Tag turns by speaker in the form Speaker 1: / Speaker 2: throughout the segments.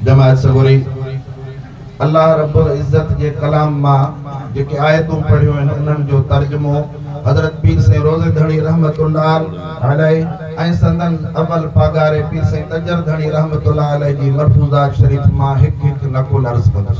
Speaker 1: جماعت سڳوري الله رب العزت جي ڪلام مان جيڪي آيتون پڙهيون آهن انهن جو ترجمو حضرت پير سائين روضي ڌڻي رحمت الله عليه ۽ سندن اول پاڳاري پير سائين تجر ڌڻي رحمت الله عليه جي ملفوظات شريف مان هڪ هڪ نقل عرض ڪندس.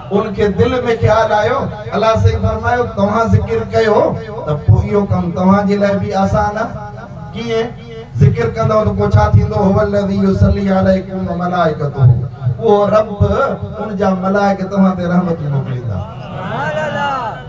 Speaker 1: ان کي دل ۾ خيال آيو، الله سائين فرمايو توهان ذڪر ڪيو ته پوء اهو ڪم توهان جي لاء به آسان آهي. ڪيئن؟ ذڪر ڪندؤ ته پوء ڇا ٿيندو؟ هو الذي يصلي عليڪم وملائڪته اهو رب ان جا ملائڪ توهان تي رحمتون موڪليندا.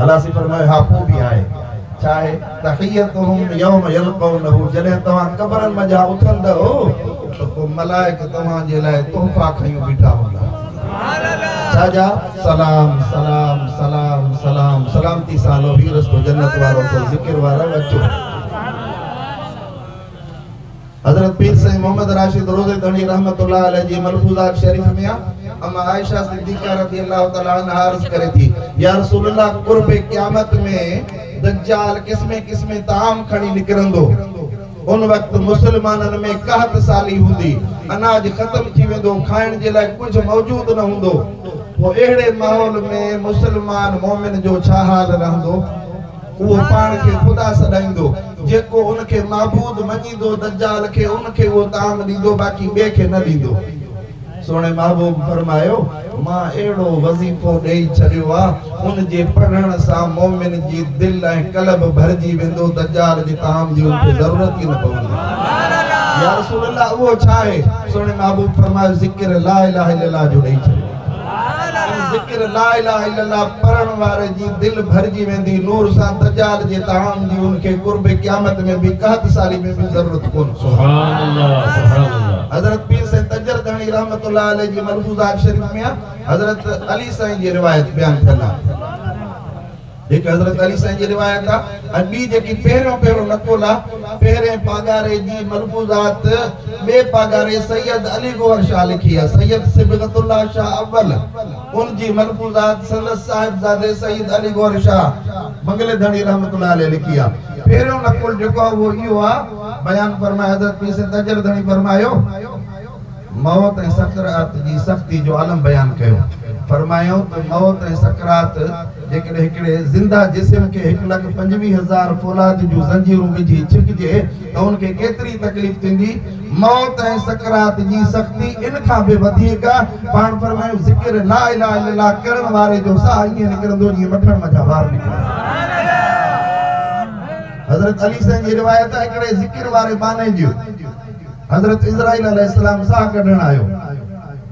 Speaker 1: الله سي فرمايو ها پوء به آهي ڇا آهي تحيتهم يوم يلقونه جڏهن توهان قبرن منجهان اٿندؤ ته پوء ملائڪ توهان جي لاء تحفا کنيون بيٺا هوندا سبحان الله ڇا جا سلام سلام سلام سلام سلامتي سان هلو هي رستو جنت وارو اٿو ذڪر وارو اچو حضرت پير سائين محمد راشد روضي ڌڻي رحمة الله عليه جي ملفوظات شريف ۾ اما عائشه صديقه رضي الله تعالٰي عنها عرض ڪري ٿي يا رسول الله قرب قيامت ۾ دجال قسمين قسمين طعام کڻي نڪرندو ان وقت مسلمانن ۾ قحط سالي هوندي اناج ختم ٿي ويندو کائڻ جي لاء ڪجهه موجود نه هوندو پوء اهڙي ماحول ۾ مسلمان مؤمن جو ڇا حال رهندو هو پاڻ کي خدا سڏائيندو، جيڪو ان کي معبود مڃيندو دجال کي ان کي اهو طعام ڏيندو باقي ٻئي کي نه ڏيندو. سهڻي محبوب فرمايو، مان اهڙو وظيفو ڏيئي ڇڏيو آ، ان جي پڙهڻ سان مؤمن جي دل ۽ قلب ڀرجي ويندو، دجال جي طعام جي ان کي ضرورت ئي نه پوندي. يارسول الله اهو ڇا آهي؟ سهڻي محبوب فرمايو، ذڪر لا اله الا الله جو ڏيئي ڇڏيو. ۽ ذڪر لا اله الا الله پڙهڻ واري جي دل ڀرجي ويندي نور سان دجال جي طعام جي ان کي قرب قيامت ۾ به قحط سالي ۾ به ضرورت ڪون سبحان الله سبحان الله حضرت پير سيد تجر ڌڻي رحمت الله عليه جي ملفوظات شريف ۾ حضرت علي سائين جي روايت بيان ٿيل آهي. هڪ حضرت علي سائين جي روايت آ ۽ ٻي جيڪي پهريون پهريون نقل آ پهرين پاڳاري جي ملفوظات ٻئي پاڳاري سيد علي گوهر شاهه لکي آ سيد صبغت الله شاهه اول ان جي ملفوظات سندس صاحبزادي سيد علي گوهر شاهه بنگلي ڌڻي رحمة الله عليه لکي آ پهريون نقل جيڪو آ اهو اهو آ بيان فرمائي حضرت پير سيد تاجر ڌڻي فرمايو. موت ۽ سڪرات جي سختي جو عالم بيان ڪيو. فرمايائون ته موت ۽ سڪرات جيڪڏهن هڪڙي زنده جسم کي هڪ لک پنجويهه هزار فولاد جون زنجيرون وجهي ڇڪجي ته ان کي ڪيتري تڪليف ٿيندي. موت ۽ سڪرات جي سختي ان کان به وڌيڪ آ. پاڻ فرمايائون ذڪر لا اله الا الله ڪرڻ واري جو ساهه ائين نڪرندو جيئن مکڻ منجهان وار نڪري. حضرت علي سائين جي روايت آ هڪڙي ذڪر واري ٻانهي جي. حضرت عزرائيل عليه السلام ساهه ڪڍڻ آيو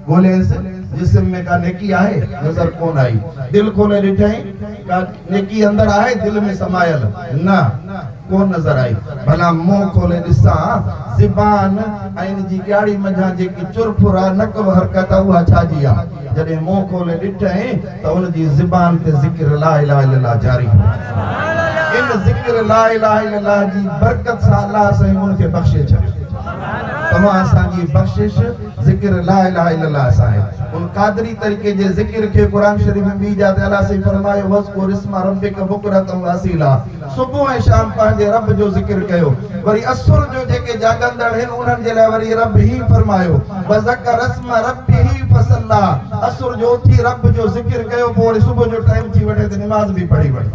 Speaker 1: ڳولهيس جسم ۾ ڪا نيڪي آهي نظر ڪونه آئي دل کولي ڏٺائين ڪا نيڪي اندر آهي دل ۾ سمايل نه ڪونه نظر آئي ڀلا منهن کولي ڏسان زبان ۽ ان جي ڄاڙي منجهان جيڪي چرپر آهي نڪ وحرڪت آهي اها ڇا جي آهي جڏهن منهن کولي ڏٺئين ته ان جي زبان تي ذڪر لا اله الا الله جاري هو. ان ذڪر لا اله الا الله جي برڪت سان الله سائين ان کي بخشي ڇڏيو. توهان اسان جي بخشش ذڪر لا اله الا الله سان آهي. ان قادري طريقي جي ذڪر کي قرآن شريف ۾ ٻي جاء تي الله سائين فرمايو وذڪر اسم ربک بڪرة واصيلا. صبح ۽ شام پنهنجي رب جو ذڪر ڪيو. وري عصر جو جيڪي جاڳندڙ هن انهن جي لاء وري رب هي فرمايو، وذڪر اسم ربه فصلي، عصر جو اٿي رب جو ذڪر ڪيو پوء وري صبح جو ٽائيم ٿي وٺي ته نماز به پڙهي وٺ.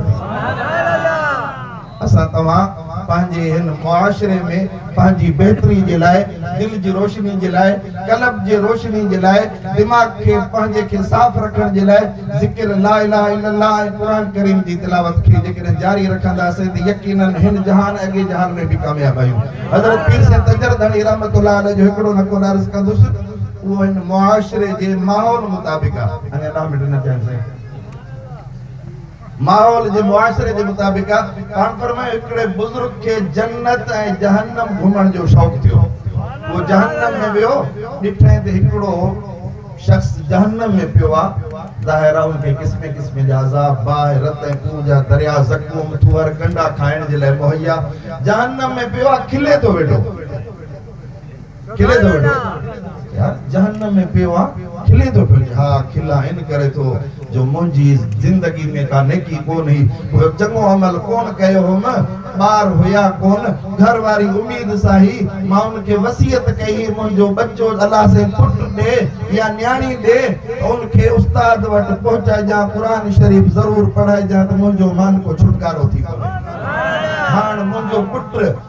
Speaker 1: اسان توهان پنهنجي هن معاشري ۾. پنهنجي بهتري جي لاء، دل جي روشني جي لاء، قلب جي روشني جي لاء، دماغ کي پنهنجي کي صاف رکڻ جي لاء ذڪر لا اله الا الله ۽ قرآن ڪريم جي تلاوت کي جيڪڏهن جاري رکنداسين ته يقيناً هن جهان ۽ اڳئين جهان ۾ به ڪامياب آهيون. حضرت پير سيد تجرد ڌڻي رحمة الله عليه جو هڪڙو نقل عرض ڪندس اهو هن معاشري جي ماحول مطابق آهي. ماحول جي معاشري جي مطابق آ پاڻ فرمايو هڪڙي بزرگ کي جنت ۽ جهنم گهمڻ جو شوق ٿيو هو جهنم ۾ ويو ڏٺائين ته هڪڙو شخص جهنم ۾ پيو آ ظاهر آ ان کي قسمين قسمين جا عذاب باهه رت ۽ خون جا دريا زقوم ٿوهر ڪنڊا کائڻ جي لاء مهيا جهنم ۾ پيو آ کلي ٿو ويٺو کلي ٿو ويٺو يار جهنم ۾ پيو آ کلي ٿو ويٺو ها کلان ان ڪري ٿو جو منهنجي زندگي ۾ ڪا نيڪي ڪون هئي ڪو چڱو عمل ڪون ڪيو هوم ٻار هيا ڪون گهر واري اميد سان هي مان ان کي وصيت ڪئي هي منهنجو ٻچو الله سين پٽ ڏي يا نياڻي ڏي ته ان کي استاد وٽ پهچائجان قرآن شريف ضرور پڙهائجان ته منهنجو مان ڪو ڇوٽڪارو ٿي پوي هاڻ منهنجو پٽ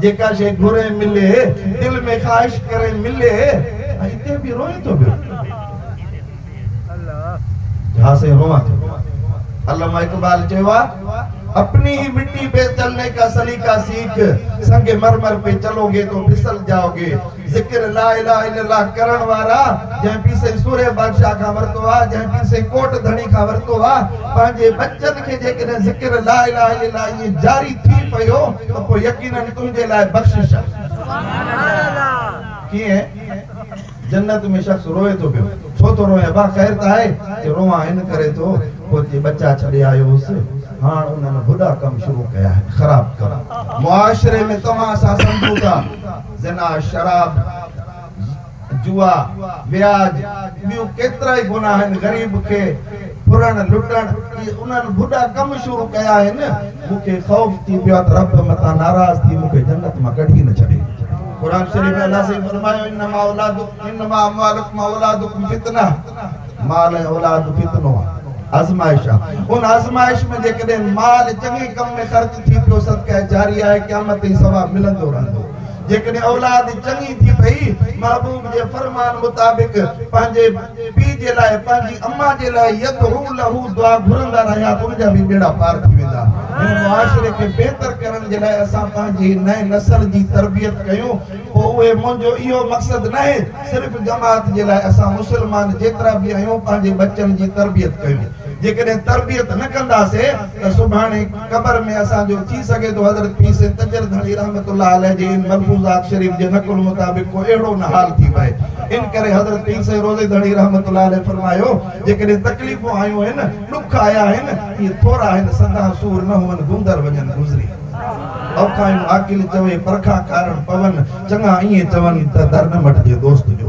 Speaker 1: جيڪا شيء گهرين ملي. دل ۾ خواهش ڪرين ملي. ۽ اتي به روئين ٿو پيو. جا سائين روئان ٿو پيو. علامه اقبال چيو آ. اپني هي مٽي پي چلني ڪا سليقا سيک. سنگ مرمر پي چلو گي تو ڦسل جائو گي. ذڪر لا اله الا الله ڪرڻ وارا جنهن پير سائين سورهيه بادشاهه کان ورتو آهي جنهن پير سائين ڪوٽ ڌڻي کان ورتو آهي پنهنجي ٻچن کي جيڪڏهن ذڪر لا اله الا الله ائين جاري ٿي پيو ته پوء يقيناً تنهنجي لاء بخشش آهي ڪيئن جنت ۾ شخص روئي ٿو پيو ڇو ٿو روئي ابا خير ته آهي چي روئان ان ڪري ٿو پوء چي ٻچا ڇڏي آيو هوس هاڻ انهن ڀڏا ڪم شروع ڪيا آهن خراب ڪم معاشري ۾ توهان اسان سمجهون ٿا زنا، شراب، جوا، وياج، ٻيون ڪيترائي گناهه آهن، غريب کي ڦرڻ، لٽڻ، اهي انهن ڀڏا ڪم شروع ڪيا آهن، مون کي خوف ٿي پيو آهي ته رب متان ناراض ٿي مون کي جنت مان ڪڍي نه ڇڏي. قرآن شريف ۾ الله سائين فرمايو، انما اولادڪم انما اموالڪم واولادڪم فتنه. مال ۽ اولاد فتنو آ، آزمائش آ. ان آزمائش ۾ جيڪڏهن مال چڱي ڪم ۾ خرچ ٿي پيو صدقه جاريه آهي قيامت تائين ثواب ملندو رهندو. جيڪڏهن اولاد چڱي ٿي پئي محبوب جي فرمان مطابق پنهنجي پي جي لاء پنهنجي امه جي لاء يدعو له دعا گهرندا رهيا ته ان جا به ٻيڙا پار ٿي ويندا. هن معاشري کي بهتر ڪرڻ جي لاء اسان پنهنجي نئين نسل جي تربيت ڪيون. پوء اهي منهنجو اهو مقصد ناهي صرف جماعت جي لاء اسان مسلمان جيترا به آهيون پنهنجي ٻچن جي تربيت ڪيون جيڪڏهن تربيت نه ڪنداسي ته سڀاڻي قبر ۾ اسان جو ٿي سگهي ٿو حضرت پير سيد تجل ڌڻي رحمت الله عليه جي ان ملفوظات شريف جي نقل مطابق ڪو اهڙو نه حال ٿي پئي ان ڪري حضرت پير سيد روضي ڌڻي رحمت الله عليه فرمايو جيڪڏهن تڪليفون آيون آهن ڏک آيا آهن اهي ٿورا آهن سدا سور نه هئن گندر وڃن گذري اوکايون عاقل چوي پرکا کارڻ پون چڱا ائين چون ته در نه مٽجي دوست جو.